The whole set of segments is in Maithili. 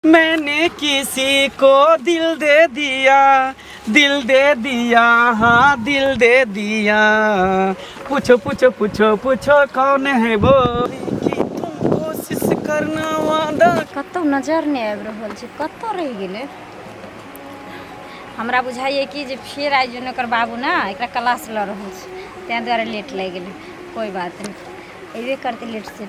मैंने किसी को दिल दे दिया दिल दे दिया हाँ दिल दे दिया पूछो पूछो पूछो पूछो कौन है वो कि तुम कोशिश करना वादा कतौ नजर नहि आबि रहल छै कतौ रहि गेलै हमरा बुझाइए कि जे फेर आइ जन ओकर बाबू ने एकरा क्लास लऽ रहल छै ताहि दुआरे लेट लागि गेलै कोइ बात नहि अयबे करतै लेट से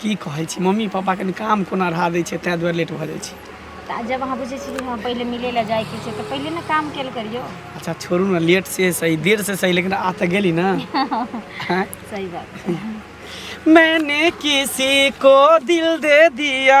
की कहै छी मम्मी पापा कनि काम कोना अढ़ा दै छै ताहि दुआरे लेट भऽ जाइ छै तऽ आ जब अहाँ बुझै छी कि हँ पहिले मिलै लए जाइके छै तऽ पहिले ने काम कयल करियौ अच्छा छोड़ू ने लेट से सही देर से सही लेकिन आ तऽ गेली ने हैं? सही बात मैंने किसी को दिल दे दिया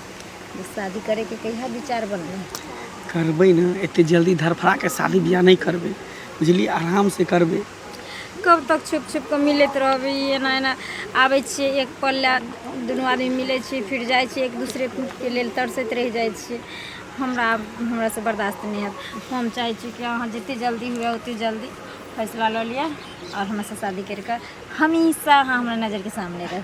शादी करे के कहिया विचार बनल करबे ना एते जल्दी धरफड़ा के शादी बियाह नहीं करबे बुझली आराम से करबे कब तक छुप छुप के मिलत रहबे एना एना आबै छियै एक पल ला दुनू आदमी मिलै छियै फिर जाइ छियै एक दूसरे के लेल तरसैत रहि जाइ छियै हमरा हमरा से बर्दाश्त नहीं हैत हम चाहै छी कि अहाँ जते जल्दी हुए ओते जल्दी फैसला लऽ लिअ और हमरा से शादी करके हमेशा अहाँ हमरा नजर के सामने रह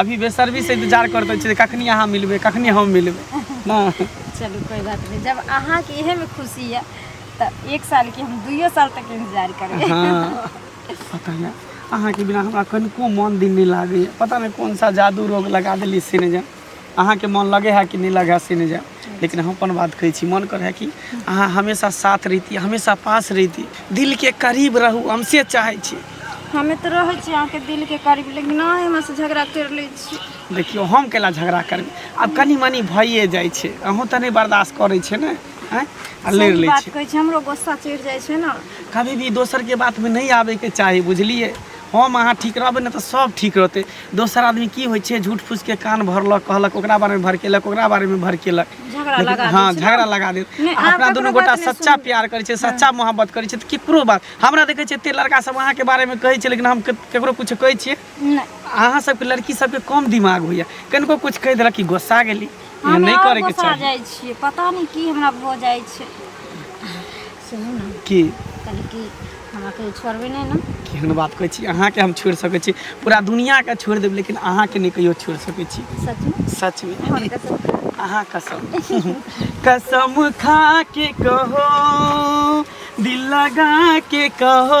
अभी बेसरबी से इंतजार करते छी कखनी अहाँ मिलबे कखनी हम मिलबे ना चलू कोई बात नहीं जब अहाँ के इहे में खुशी है तो एक साल के हम दुइयो साल तक इंतजार करबे हाँ पता नहीं अहाँ के बिना हमरा कनिको मन दिन नहीं लागे पता नहीं कौन सा जादू रोग लगा दिली सिनेजन अहाँ के मन लगे है कि नहीं लगे है सिनेजन लेकिन हम अपन बात कहै छी मन करै कि अहाँ हमेशा साथ रहिती हमेशा पास रहिती दिलके करीब रहू हम से चाहै छी हमे तऽ रहै छी अहाँके दिलके करीब लेकिन नहि हमरा से झगड़ा करि लै छी देखियौ हम केला झगड़ा करबै आब कनि मनि भइए जाइ छै अहूँ तऽ नहि बर्दाश्त करै छै ने आँय? आ लड़ि सही लै बात छै कहै छी हमरो गुस्सा चढ़ि जाइ छै ने कभी भी दोसरके बातमे नहि आबैके चाही बुझलियै हम अहाँ ठीक रहबै ने तऽ सब ठीक रहतै दोसर आदमी की होइ छै झूठ फूसके कान भरलक कहलक ओकरा बारेमे भड़केलक ओकरा बारेमे भड़केलक झगड़ा लेकिन- लगा हँ दै छै ने। झगड़ा लगा देत नहि, अहाँ अपना ककरो दुनू बात गोटा नहि सच्चा सुनू। प्यार करै छै सच्चा मोहब्बत करै छै तऽ केकरो बात हमरा देखै छियै एते लड़का सब अहाँके बारेमे कहै छै लेकिन हम के- केकरो कुछ कहै छियै नहि अहाँ सबके लड़की सबके कम दिमाग होइया कनिको कुछ कहि देलक कि गोस्सा गेली एहन हम नहि आओर करैके गोसा चाही जाइ छियै पता नहि की हमरा भऽ जाइ छै सुनू ने की कहली कि हमरा कहियो छोड़बै नहि ने केहन बात कहै छी अहाँके हम छोड़ि सकै छी पूरा दुनियाके छोड़ि देब लेकिन अहाँके नहि कहियो छोड़ि सकै छी सचमे सचमे हमर कसम खा अहाँ कसम कसम खा के कहो दिल लगा के कहो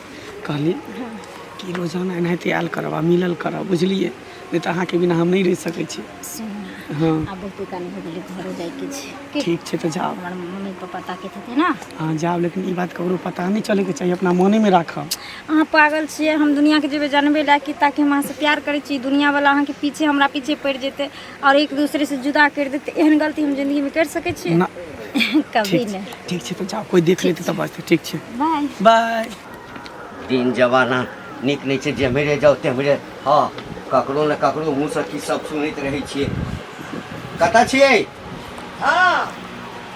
कहली कि रोजाना एनाहिते आयल करब आ मिलल करब बुझलियै नहि तऽ अहाँके बिना हम नहि रहि सकै छी सुनू हँ आब बहुते काल भऽ गेलै घरो जाइके छै की ठीक छै तऽ जाउ हमर मम्मी पप्पा ताकैत हेतै ने अहाँ जाउ लेकिन ई बात ककरो पता नहि चलैके चाही अपना मोनेमे राखब अहाँ पागल छियै हम दुनिआँके जेबै जानबै लए कि ताकि हम अहाँसँ प्यार करै छी दुनिआँवला अहाँके पीछे हमरा पीछे पड़ि जेतै आओर एक दोसरे से जुदा करि देत तऽ एहन गलती हम जिंदगी में करि सकै छियै ना कभी ठीक नहि ठीक छै तऽ जाओ कोई देख लेते तब बात ठीक छै बाय बाय दिन जमाना नीक नहि छै जेम्हरे जाउ तेम्हरे हँ ककरो ने ककरो मुँहसँ की सब सुनैत रहै छियै कतऽ छियै हँ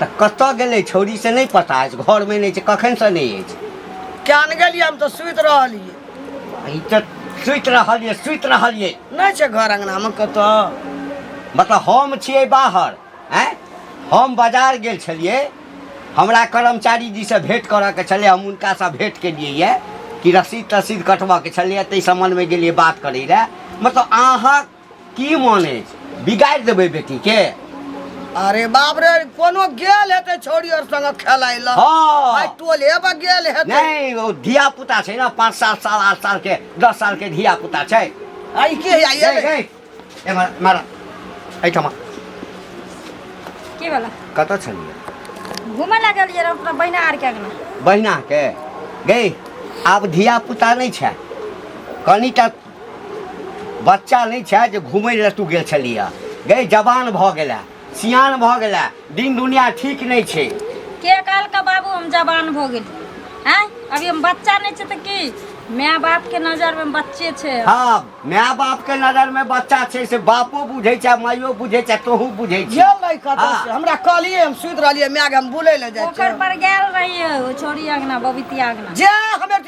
तऽ कतऽ गेलै छौरी से नहि पता अछि घरमे नहि छै कखनसँ नहि अछि कियान गेलियै हम तऽ सुति रहलियै ई तऽ सुति रहल यऽ सुति रहल यऽ नहि छै घर अङ्गनामे कतऽ मतलब हम छियै बाहर आँय हम बाजार गेल छलियै हमरा कर्मचारी जीसँ भेँट करऽके छलै हम हुनकासँ भेँट केलियै यऽ कि रसीद तसीद कटबऽके छलैए ताहि सम्बन्धमे गेलियै बात करै लए मतलब अहाँ কি মনে বিগাড় দেবে বেটিকে अरे बाप रे कोनो गेल हेतै छोरी और संग खेलाइ ल हाँ। भाइ टोले पर गेल हेतै नहीं वो धिया पुता छै ना पाँच साल साल आठ साल के दस साल के धिया पुता छै आइ के आइ ए, एलै ए, ए, मारा, मारा एहिठामा के वाला कतऽ छलियै घूमे ला गेल जे अपना बहिना आर के अगना बहिनाके गई आब धिया पुता नहि छै कनिटा बच्चा नहीं छे जो घूम ले तू गेल छलिया गई जवान भ गेला सियान भ गेला दिन दुनिया ठीक नहीं छे के काल का बाबू हम जवान भ गेल हैं अभी हम बच्चा नहीं छे तो की माय बाप के नजर में बच्चे छे हां माय बाप के नजर में बच्चा छे से बापो बुझे छे मायो बुझे छे तोहू बुझे छे ये नहीं कहता हाँ। हमरा कहलिए हम सुत रहलिए माय के हम बुले ले जाय ओकर पर गेल रहिए छोरी अंगना बबीती अंगना जे हमें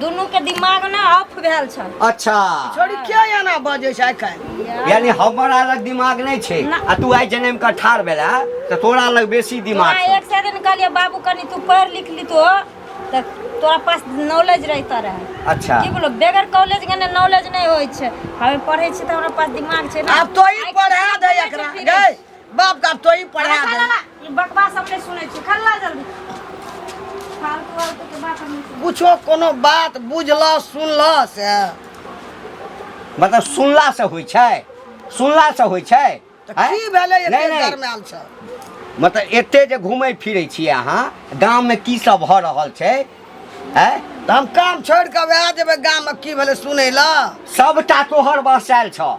दुनू के दिमाग ना ऑफ भेल छ अच्छा छोड़ी क्या एना बजे छै काल्हि यानी हमर अलग दिमाग नहीं छै ना। आ तू आइ जन्म का ठार भेला तो तोरा अलग बेसी दिमाग तोरा छौ। एक से दिन कहलिए बाबू कनी तू पढ़ लिख ली तो त तोरा पास नॉलेज रहता रहे अच्छा की बोलो बेगर कॉलेज के ने नॉलेज नहीं होय छै हमें पढ़े छी त हमरा पास दिमाग छै ना आब तो ही आइ काल्हि पढ़ा दे दिमाग एकरा छै, गै बाप का तो ही पढ़ा दे ई बकवा सब नहीं सुने छी खा ला जल्दी फालतू फालतू के बात हम नहीं सुने कुछो कोनो बात बुझल सुनल से मतलब सुनला से होइ छै सुनला से होइ छै तऽ आँय? की भेलै नहि, एते नहि। गरमायल छ मतलब एते जे घूमै फिरै छियै अहाँ गाममे की सब भऽ रहल छै आँय तऽ हम काम छोड़ि कऽ वएह जेबै गाममे की भेलै सुनै लए सभटा तोहर बसायल छौ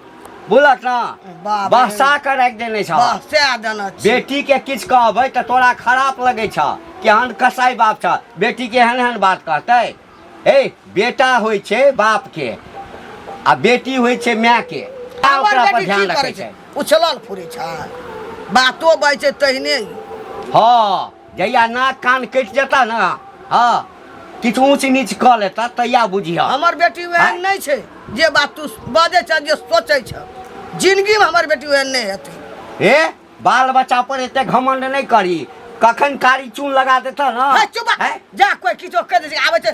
बुलक ना बाप बहसा के रख देने छौ बहसा देना छी बेटी के किछ कहबै तऽ तोरा खराप लगै छौ केहन कसाई बाप छौ बेटी के एहन एहन बात कहतै हे बेटा होइ छै बाप के आ बेटी होइ छै माय के आ हमर ओकरा पर बेटी ध्यान की रखै करै छै छै उछलल फुरै छै बातो बाजै छै तहिने हँ जहिया नाक कान कटि जेता ने हँ किछु ऊँच नीच कऽ लेता तहिया बुझिह हमर बेटी ओहन आँय? नहि छै जे बात तू बजै छह जे सोचै छह जिनगीमे हमर बेटी ओहन नहि हेतै हे बाल बच्चा पर एते घमंड नहि करी कखन कारी चून लगा देता है, ने चुप हैं? जा कोई किछो कहि दै छै आबै छै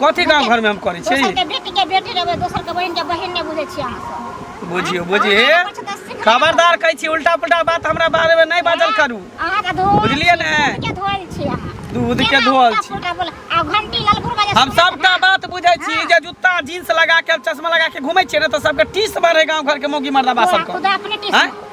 कथी गाँव घरमे हम करै छी दोसरके बेटीके बेटी रहबै दोसरके बहिनके बहिन नहि बुझै छियै अहाँ सब बुझियो बुझिए अहाँ अपन सबके सिखा- खबरदार कहै छी उल्टा पुल्टा बात हमरा बारेमे नहि बाजल करू अहाँके धोअल बुझलियै छी, ने? दूधके धोअल छी अहाँ दूधके केना धोअल उल्टा छी। पुल्टा बोल- आ घंटी ललगुर बजे हम सुनै सबटा छी। बात बुझै छी हाँ। जे जूता जींस लगा के चश्मा लगा के घूमै छियै ने तऽ सबके टीस मारे गाँव घर के मौगी मर्दा बा तोरा सबके खुदा अपने टीस हाँ? मार।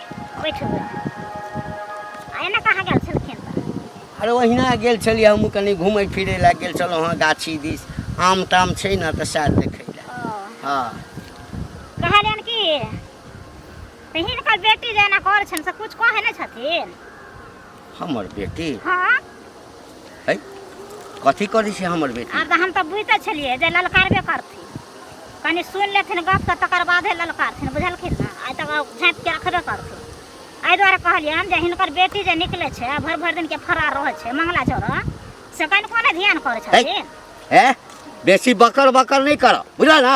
अरे ओहिना गेल छलियै हमहूँ कनि घूमै फिरै लए गेल छलहुँ हँ गाछी दिस आम ताम छै ने तऽ सएह देखै लए हँ कहलियन कि हिनकर बेटी जे एना करै छनि से किछु कहै नहि छथिन हमर बेटी हाँ है कथी करी छै हमर बेटी आब तऽ हम तऽ बुझिते छलियै जे ललकारबे करथिन कनि सुनि लेथिन गप तऽ तकर बादे ललकारथिन बुझलखिन ने आइ तक झाँपि के रखबे करथिन एहि दुआरे कहलियनि जे हिनकर बेटी जे निकलै छै भरि भरि दिन के फरार रहै छै मंगला चौरा से कनिको नहि ध्यान करै छथिन है बेसी बकर बकर नहीं करो बुझल ना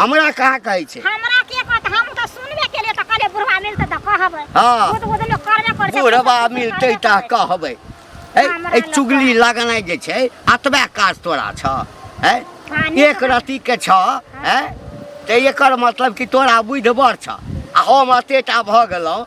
हमरा कहाँ कहै छै हमरा के कहत हम त सुनबे केले त कहले बुढ़वा मिलते त कहबै हाँ। खुद खुद लोग करबे कर बुढ़वा मिलतै त कहबै है हमरा ए लग चुगली लगनाइ जे छै अतबे काज तोरा छ है हाँ, नीक एक रति के छ है त एकर मतलब कि तोरा बुझि बड़ छ आ हम अतेटा भऽ गेलहुँ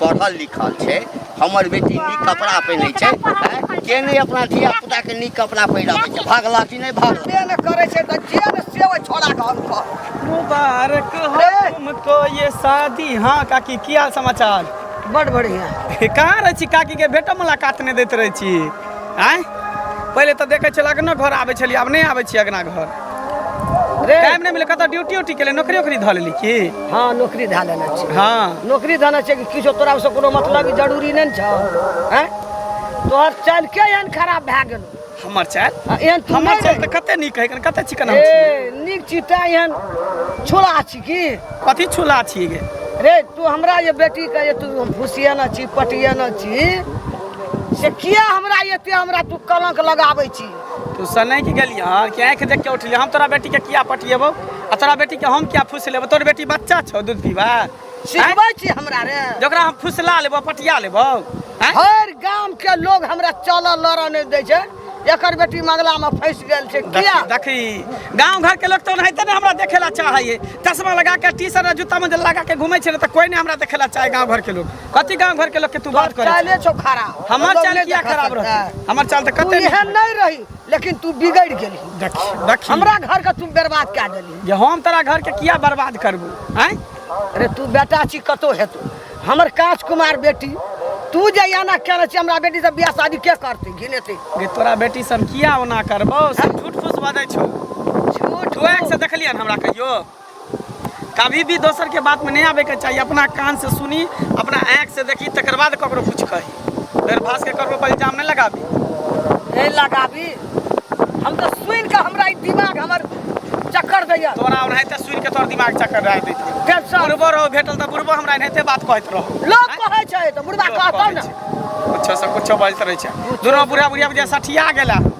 पढ़ल लिखल छै हमर बेटी नीक कपड़ा पहिनै छै आँय? के नहि अपना धिया पुता के नीक कपड़ा पहिराबै छै भागला कि नहि भागला जे ने करै छै तऽ जे ने से ओहि छोड़ा के हम कह मुबारक हो तुमको ये शादी हाँ काकी की हाल समाचार बड बढ़िया कहाँ रहै छी काकी के भेटो मुलाकात नहि दैत रहै छी आँय पहिले तऽ देखै छलक ने घर आबै छलियै आब नहि आबै छी अगना घर टाइम नहि मिले कतऽ ड्यूटी उटी केले नौकरी उकरी धऽ लेली की हाँ नौकरी धए लेने छी हाँ नौकरी देने छै कि किछो तोरा से कोनो मतलब ई जरूरी नहि ने छौ हैं तोहर चाल के एहन खराब भए गेल हमर चाल आ एहन तू हमर नहि चाल रही। तऽ कते नीक है कते चिकन हम छी। ए नीक छी तैं एहन छोड़ा छी की कथी छुला छी गे रे तू हमरा ये बेटी के ये तू हम फुसियाना छी पटियाना छी से किया हमरा एते हमरा तू कलंक लगाबै छी तू सनै की गेली हां कि आंख देख के उठली हम तोरा बेटी के किया पटिएबो आ तोरा बेटी के हम किया फुस लेबो तोर बेटी बच्चा छौ दूध पीबा सिखबै छी हमरा रे जकरा हम फुसला लेबो पटिया लेबो हैं? हर गांव के लोग हमरा चलऽ लड़ऽ नहि दै छै एकर बेटी मगला में फंसि गेल छै किया देखी गांव घर के लोग तो नहीं ने हमरा देखेला चाहे चश्मा लगा के टी शर्ट जूता में जे लगा के घूमे छै ने तो कोई नहीं हमरा देखेला चाहे गांव घर के लोग कथी गांव घर के लोग के तू बात करे चाले छो खराब हमर चाल किया खराब रहत हमर चाल त तू कते एहन नहीं नहीं रही लेकिन तू बिगड़ गेली देख देख हमरा घर के तू बर्बाद कर देली जे हम तोरा घर के किया बर्बाद करबू हैं अरे तू बेटा छी कतो हेतू हमर काज कुमार बेटी तू जे एना केने छी हमरा बेटी से बियाह शादी के करती घिनेती जे तोरा बेटी से हम किया ओना करबो से झूठ फूस बजै छौ झूठ तू एक से देखलियन हमरा कहियो कभी भी दोसर के बात में नहीं आवे के चाहिए अपना कान से सुनी अपना आँख से देखी तकर बाद ककरो कुछ कही बेर भास के ककरो पर इल्जाम नहीं लगाबी नहीं लगाबी हम तो सुन के हमरा ई दिमाग हमर चक्कर दैया तोरा ओनाहिते सुन के तोर दिमाग चक्कर रह देते टेंशन बुढ़बो रहो भेटल तऽ बुढ़बो हमरा एनाहिते बात कहैत रहो लोग कहै छै तऽ बुढ़बा कहतौ ने कुछो से कुछो बाजते रहे छै दुनो बुढ़ा बुढ़िया बुझिया सठिया गेला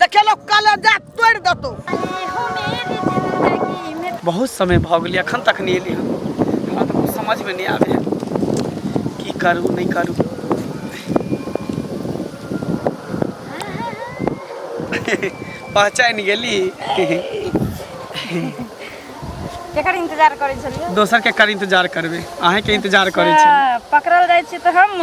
देखे लोग काले जा तोड़ दतो बहुत समय भ गेल अखन तक नहीं एली हमरा तो कुछ समझ में नहीं आवे की करू नहीं करू पहचान गेली केकर इंतजार करै छलियै दोसर के कर इंतजार करबे अहें के इंतजार करे छी पकड़ल जाइ छी तऽ हम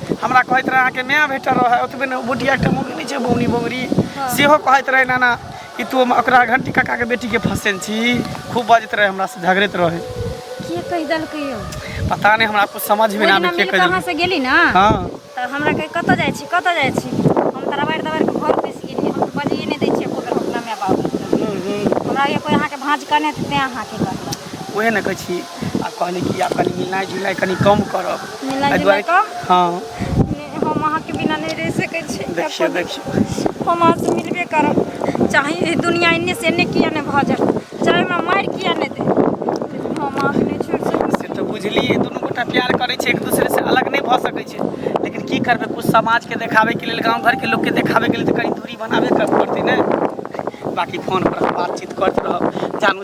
हमरा कहैत रहै अहाँके माय भेटल रहै ओतबे ने बुढ़िया एकटा मौगी नहि छै बौनी बौरी सेहो कहैत रहै नाना कि तू ओकरा घंटी काकाके बेटीके फसेन छी खूब बजैत रहै हमरासँ झगड़ैत रहै के कहि देलकै यौ पता नहि हमरा कुछ समझ में ना आबै के कहि देलकै से गेली ना हां त हमरा कहि कत जाइ छी कत जाइ छी हम त रबाड़ दबाड़ के घर पैस गेली हम त बजिए नहि दै छियै एको बेर अपना माय बाप हमरा ये कोई अहाँके भांज कने ते अहाँके कहलक ओहे ने कहै छी आ कहली कि आब कनि मिलनाइ जुलनाइ कनि कम करब मिलनाइ एहि दुआरे जुलनाइ कम? कि- हँ नहि, हम अहाँके बिना नहि रहि सकै छी देखियौ देखियौ हम अहाँसँ मिलबे करब चाहे ई दुनिया एन्ने से एन्ने किया नहि भऽ जाए चाहे हमरा मारि किया नहि दे लेकिन हम अहाँके नहि छोड़ि सकै से तऽ बुझलियै दुनू गोटा प्यार करै छै एक दूसरे से अलग नहि भऽ सकै छै लेकिन की करबै कुछ समाजके देखाबैके लेल गाँव घरके लोकके देखाबैके लेल तऽ कनि दूरी बनाबे कर पड़तै ने बाकी फोन पर बातचीत करैत रहब जानू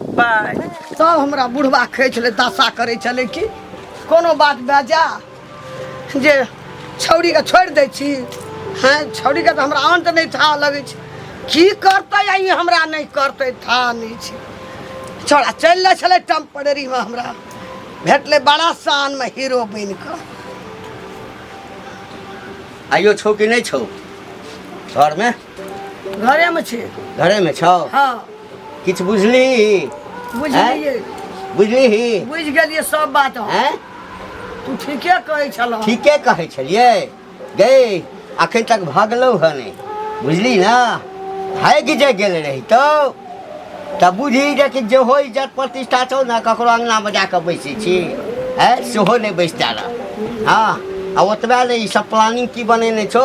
बाय तब हमरा बुढ़वा कहै छलै दशा करै छलै कि कोनो बात भए जा जे छौरीके छोड़ि दै छी हँ छौरीके तऽ हमरा अन्त नहि था लगै छै की करतै आ ई हमरा नहि करतै था नहि छै छौड़ा चलि जाइ छलै टेम्परेरीमे हमरा भेटलै बड़ा शानमे हीरो बनि कऽ आइयो छौ कि नहि छौ घरमे घरेमे छै घरेमे छौ हँ किछु बुझली बुझलियै बुझली ही बुझि गेलियै सब बात हम। हैं तू ठीके कहै छलह ठीके कहै छलियै गई अखन तक भगलौ हँ नहि बुझली ना भागि जे गेल रही तो तऽ बुझी जे कि जेहो इज्जत प्रतिष्ठा छौ ने ककरो अङ्गनामे जा कऽ बैसै छी है सेहो नहि बैसता रह हँ आ ओतबे नहि ई सब प्लानिंग की बनेने छौ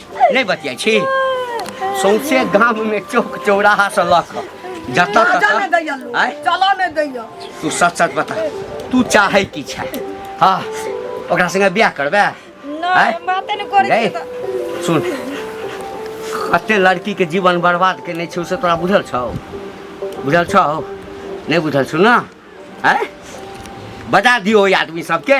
नहि बतियाइ छी सौंसे गाममे चौक चौराहा से लऽ कऽ जतऽ चलऽ ततऽ दैया लोग, आँय? चलऽ नहि दैया तू सच सच बता तू चाहै की छै हँ ओकरा संगे बियाह करबे आँय? नहि बाते नहि करै गई? छियै तऽ सुन कते लड़की के जीवन बर्बाद केने छौ से तोरा बुझल छौ बुझल छौ नहि बुझल छौ ने आँय बता दियो ओहि आदमी सबके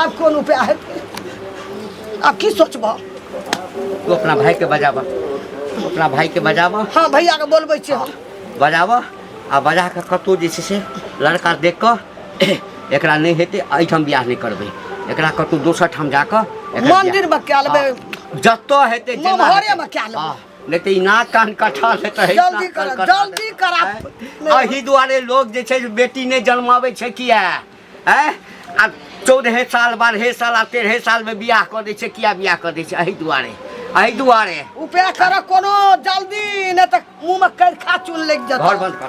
आब कोन उपाय हेतै आब की सोचबह तू अपना भाई के बजाबा अपना भाई के बजाबा हाँ भैया के बोलबै छियै हम बजाबा आ बजा के कतौ जे छै से लड़का देख कऽ एकरा नहि हेतै एहिठाम बियाह नहि करबै एकरा कतौ दोसर ठाम जा कऽ एकर बियाह- मंदिर में क्या लेबै हाँ, जतऽ हेतै जेना ममहरे हेतै। में क्या लेबै? हाँ, नहि तऽ ई नाक कान कठा ले तऽ जल्दी करा जल्दी करा एहि दुआरे लोग जे छै से बेटी नहि जन्माबै छै किया हैं आ चौदहे साल बारहे साल आ तेरहे साल में बियाह कर दै छै किया बियाह कर दै छै एहि दुआरे एहि दुआरे उपाय करऽ कोनो जल्दी नहि तऽ मुँह में कर खा चुन लग जेतऽ घर बंद कर